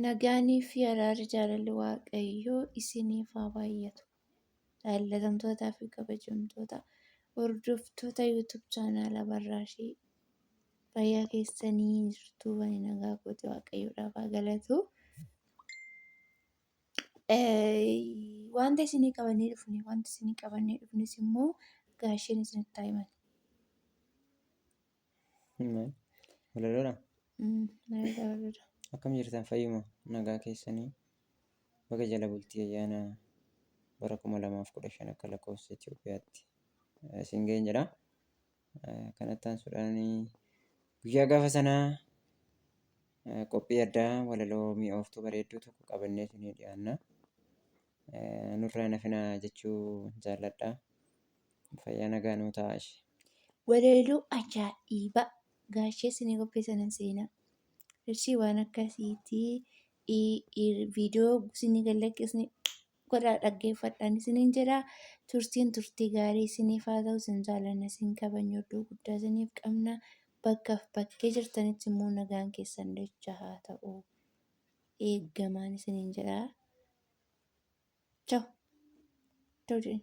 Nagaanii fi araarri jaalalli Waaqayyoo isiniif haa baay'atu. Jaallatamtootaa fi kabajamtoota hordoftoota YouTube chaanaala barraashii fayyaa keessanii jirtu wani nagaa kooti Waaqayyoodhaaf haa galatu. Wanta isinii qabannee dhufne wanta isinii qabannee dhufnes immoo gaasheen isinitti haa himan. Walaloodha. Akkam jirtan fayyuma nagaa keessanii baga jala bultii ayyaana bara kuma lamaaf kudha shan akka lakkoofsa Itoophiyaatti isin ga'een jedha. Kanatti aansuudhaan guyyaa gaafa sanaa qophii addaa walaloo mi'ooftuu bareedduu tokko qabannee isinii dhiyaanna. Nurraa nafinaa jechuu jaalladha. Fayyaa nagaa nuu ta'a ishee. Waleeluu ajaa'iba gaashee isinii qopheessanan seenaa. Ishii waan akkasiitii viidiyoo isinii gallakkisni godhaa dhaggeeffadhaan isiniin jedha. Turtiin turtii gaarii isiniif haa ta'u isin jaalanna isin kabajna iddoo guddaa isiniif qabna. Bakkaaf bakkee jirtanitti immoo nagaan keessan dacha haa ta'u. Eeggamaan isiniin jedha. Chao. Chao jedhin.